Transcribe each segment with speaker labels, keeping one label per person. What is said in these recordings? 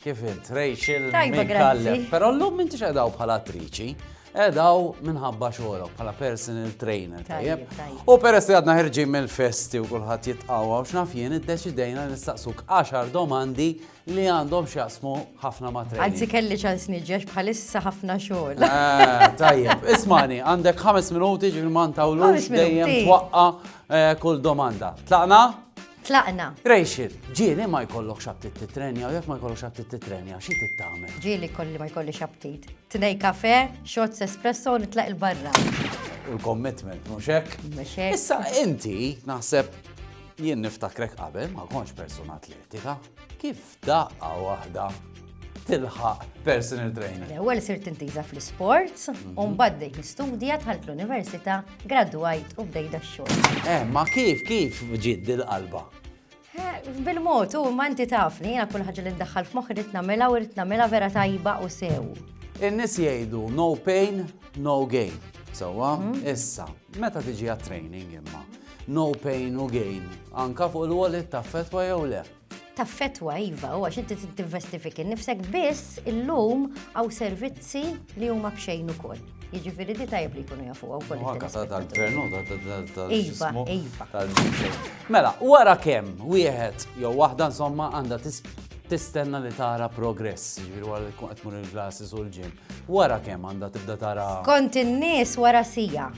Speaker 1: Kif int, Rachel Mikallem. Pero l-lum mintix edaw bħala attriċi, edaw minħabba xogħolok bħala personal trainer. Tajjeb. U peress li għadna ħirġin mill-festi u kulħadd jitqawwa u x'naf jien iddeċidejna nistaqsuk 10 domandi li għandhom x'jaqsmu ħafna ma' training. Anzi kelli ċans niġġex
Speaker 2: bħalissa ħafna xogħol. Eh, tajjeb,
Speaker 1: ismani, għandek ħames minuti ġifieri ma ntawlux dejjem twaqqa eh, kull domanda. Tlaqna? Tlaqna.
Speaker 2: Rachel,
Speaker 1: ġieli ma jkollokx aptit titrenja u jekk ma jkollokx aptit titrenja, xi tittamel? Ġieli kolli ma jkollix
Speaker 2: aptit. Tnej kafe, shots espresso u nitlaq il-barra. U
Speaker 1: l-commitment, mhux hekk? Mhux hekk. Issa
Speaker 2: inti
Speaker 1: naħseb jien niftakrek qabel ma kontx persuna atletika. Kif Daqqa waħda tilħaq personal trainer. L-ewwel sirt intiża
Speaker 2: fl-isports, mhm. u mbagħad dejt nistudja dħalt l-università, gradwajt u bdejt dax-xogħol. Eh, ma kif kif
Speaker 1: ġid dil-qalba? Eh,
Speaker 2: bil-mod, u ma inti tafni, jiena kull ħaġa li ndaħħal f'moħħ rid nagħmilha u rid nagħmilha vera tajba u sew. In-nies jgħidu
Speaker 1: no pain, no gain. Sewwa, mhm. issa, meta tiġi għat-training imma, no pain u gain, anka fuq il-wallet ta' fetwa jew le. taffetwa
Speaker 2: iva u għax inti tinvesti fik innifsek biss illum għaw servizzi li huma bxejn ukoll. Jiġifieri di tajb li jkunu jafu għaw koll. Għaka ta' tal-gvernu, ta' tal Mela,
Speaker 1: wara kemm wieħed jew waħda insomma għandha tistenna li tara progress, ġifieri wara li tkun qed mur il-glasses u l-ġim. Wara kemm għandha tibda tara. Kont in-nies
Speaker 2: wara sija.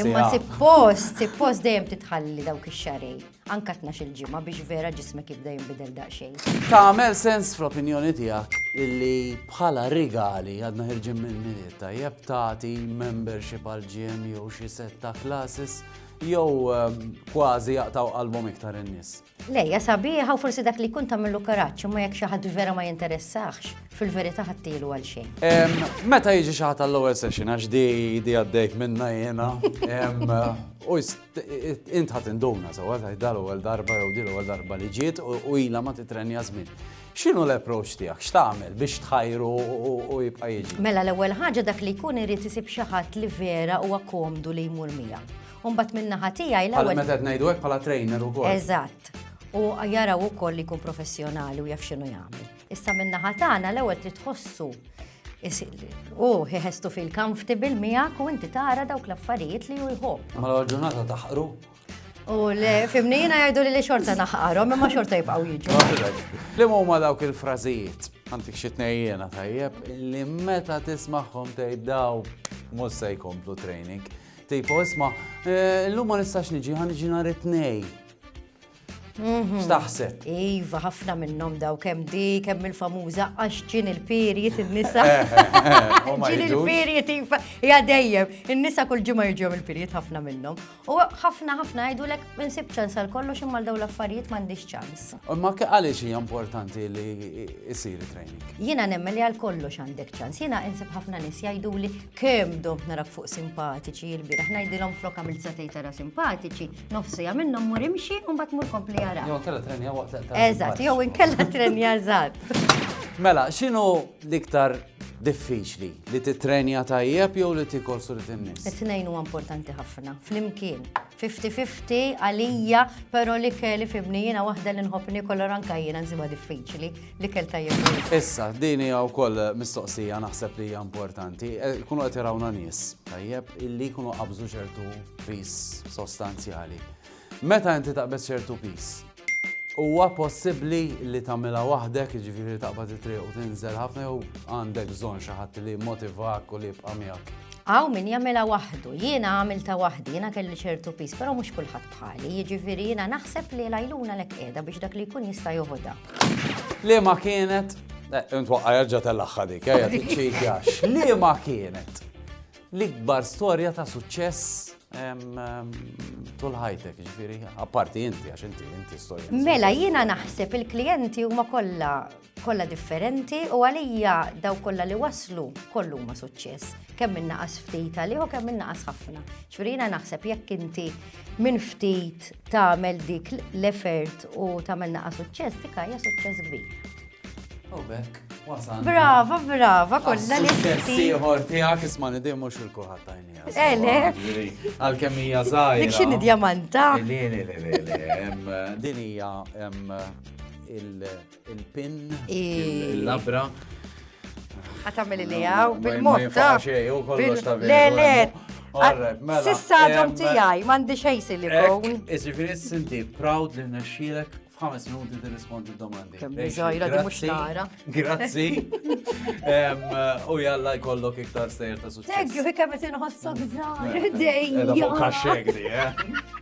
Speaker 2: Imma suppost, suppost dejjem titħalli dawk ix-xarej. Anka tnax-il ġimgħa biex vera ġismek jibda jinbidel daqsxejn. Tagħmel sens
Speaker 1: fl-opinjoni tiegħek illi bħala rigali għadna ħirġin minn milied tajjeb tagħti membership għal ġim jew xi setta classes jew ehm, kważi jaqtaw qalbhom iktar in-nies. Lejja sabiħa
Speaker 2: u forsi dak li kun tagħmlu karaġġ imma jekk xi ħadd vera ma jinteressax, fil-verità ħattilu għal xejn. Ehm, meta jiġi
Speaker 1: xi ħadd għall-ewwel session għax di di għaddejt minna jiena ehm, u Int ħat induna sewa ta' dal ewwel darba jew dil ewwel darba li ġiet u ilha ma titrenja żmien. X'inhu l-approach tiegħek? X'tagħmel biex tħajru u jibqa' jiġi? Mela l-ewwel ħaġa dak
Speaker 2: li jkun irid isib xi ħadd li vera huwa komdu li jmur miegħu. Umbat minna ħatija il Għal meta ngħidu hekk bħala
Speaker 1: trainer ukoll. Eżatt. U
Speaker 2: jaraw ukoll li jkun professjonali u jaf x'inhu jagħmel. Issa min-naħa tagħna l-ewwel trid tħossu u ħestu fil comfortable miegħek u inti tara dawk l-affarijiet li hu jħobb. Ma l ġurnata taħqru.
Speaker 1: U
Speaker 2: le, fimni jiena jgħidu li li xorta naħqarhom imma xorta jibqgħu jiġu. Li huma dawk
Speaker 1: il-frażijiet, għandik xi tnejjena tajjeb, li meta tismagħhom tgħid daw mhux se jkomplu training. Tipo, isma, eh, l-lum ma nistax niġi, ħan niġi nhar it-tnej. Mhm. Staħset. Iva, ħafna
Speaker 2: minnhom daw kemm di, kemm il-famuża għax ġin il-period in-nisa. Eh, eh, eh, ġin il-period iva, ja dejjem, in-nisa kull ġimgħa jiġu il-period ħafna minnhom. U ħafna ħafna jgħidulek insib ċans għal kollox imma daw l-affarijiet m'għandix ċans. Ma għaliex hija
Speaker 1: importanti li jsir training. Jiena nemmen li għal
Speaker 2: kollox għandek ċans. Jiena insib ħafna nies jgħiduli kemm dom narak fuq simpatiċi il-bieraħ ngħidilhom flok għamil satejtara simpatiċi, nofsija minnhom mur imxi u mbagħad mur kompli jara. Jew kella trenja waqt li
Speaker 1: Eżatt, jew inkella
Speaker 2: trenja żgħar. Mela,
Speaker 1: x'inhu l-iktar diffiċli li titrenja tajjeb jew li tikol surit in-nies? It-tnejn huwa importanti
Speaker 2: ħafna, flimkien. 50-50 għalija, però li kelli fibni jiena waħda li nħobb nikol anka jiena nsiba diffiċli. L-ikel tajjeb wisq. Issa, din hija
Speaker 1: wkoll mistoqsija naħseb li hija importanti. Eh, kunu qed irawna nies, tajjeb, illi jkunu qabżu ċertu pis sostanzjali. Meta inti taqbeż ċertu pis, Huwa possibbli li tagħmilha waħdek, jiġifieri taqbad it-triq u tinżel ħafna jew għandek bżonn xi ħadd li motivak u li jibqa' miegħek. Aw min jagħmilha
Speaker 2: waħdu, jiena għamilta waħdi, jiena kelli ċertu pis, però mhux kulħadd bħali, jiġifieri jiena naħseb li l-għajluna lek qiegħda biex dak li jkun jista' joħodha. Liema
Speaker 1: kienet, eh, intwaqqa jarġa tal-axħa dik, eh, jgħati ċikja, xliema kienet l-ikbar storja ta' suċċess tul ħajtek, ġifiri, apparti inti, għax inti, inti storja. Mela, jiena naħseb
Speaker 2: il-klienti huma kollha kollha differenti u għalija daw kollha li waslu kollu ma suċċess. Kemm minnaqas ftit għalih u kemm minnaqas ħafna. Ġifieri jiena naħseb jekk inti minn ftit tagħmel dik l-effort u tagħmel
Speaker 1: naqa'
Speaker 2: suċċess dik hija suċċess kbir. U bekk, wasan. Brava, brava, kollha li. Suċċess ieħor tiegħek
Speaker 1: isma' nidi mhux il-kuħat tajnija. Ele. Eh,
Speaker 2: Għalkemm hija
Speaker 1: żgħira. Dik x'inhi djamanta. Din hija Il-pin, il-labra. Għatamil
Speaker 2: li għaw, bil-motta.
Speaker 1: Le, le, mela,
Speaker 2: Sissa għadhom tijaj, mandi xej silikon. Iġifiri, sinti,
Speaker 1: proud li naxxilek f'ħames minuti tirrispondi d-domandi. Kemm biżajra di mhux
Speaker 2: nara. Grazzi.
Speaker 1: U jalla jkollok iktar sejr ta' suċċess. Thank
Speaker 2: you, kemm
Speaker 1: qed inħossok żgħar.
Speaker 2: Dejjem.
Speaker 1: Fuq kaxxek di, eh?